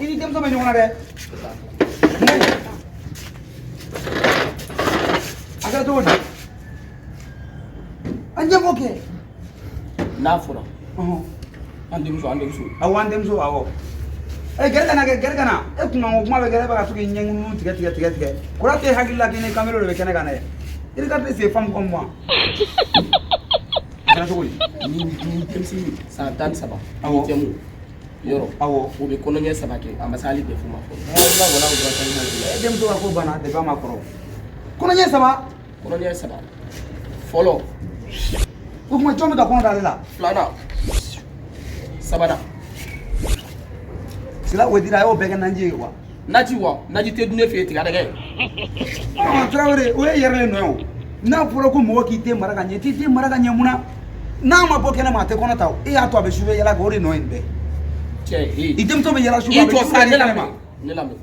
i ni denmuso bɛ ɲɔgɔn na dɛ a kɛra di a ɲɛfɔ kɛ oke n'a fɔra o an denmuso an denmuso awɔ an denmuso awɔ ee gɛrɛ kana kɛ gɛrɛ kana e kun kan ko kuma bɛ gɛrɛ bɛ ka to k'i ɲɛŋunu tigɛ tigɛ tigɛ tigɛ kura tɛ hakili la k'i ni kamero de bɛ kɛnɛ kan dɛ i ka tɛ se femme comme moi a kɛra cogo di ni denmisɛnnin san tan ni saba awɔ yɔrɔ awɔ o bɛ kɔnɔɲɛ saba kɛ a ma se hali bɛɛ fɔ ma fɔlɔ e denmuso ka ko banna depi a ma kɔrɔ kɔnɔɲɛ saba kɔnɔɲɛ saba fɔlɔ o tuma jɔn bɛ ka kɔnɔ da ale la filanan sabanan sila o dira a y'o bɛɛ kɛ naji ye wa naji wa naji tɛ dun ne fɛ yen tiga dɛgɛ ɔ tarawele o ye i yɛrɛ de nɔ ye o n'a fɔra ko mɔgɔ k'i den mara ka ɲɛ i t'i den mara ka ɲɛ mun na n'a ma bɔ kɛnɛ ma a tɛ kɔnɔ ta o e y'a to a bɛ sufɛ yala kɛ o de nɔ ye nin bɛɛ cɛ ee i denmuso bɛ yala sufɛ a bɛ sufɛ de kɛnɛ ma ne lamɛn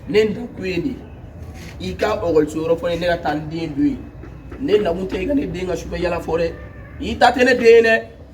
ne nakun ye nin ye i ka ekɔliso yɔrɔ fɔ n ye ne ka taa n den don yen ne nakun tɛ i ka ne den ka sufɛ yala fɔ dɛ i ta tɛ ne den ye dɛ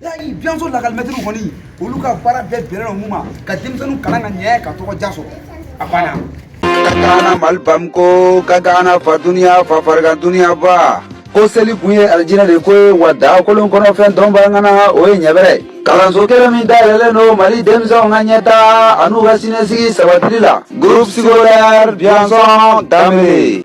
yali biyanson lakɔlimɛtiriw kɔni olu ka baara bɛɛ bɛnnen don mun ma ka denmisɛnninw kalan ka ɲɛ ka tɔgɔ jan sɔrɔ a banna kagana mali bamakɔ kagana fa duniya fa farigan duniya ba ko seli kun ye alijinɛ de ko ye wa daa kolon kɔnɔfɛn dɔnbaa ŋana o ye ɲɛbɛrɛ ye kalanso kelen min dayɛlɛlen don mali denmisɛnw ka ɲɛtaa an'u ka siniɲɛsigi sabatili la groupe scolaire biyanson danbele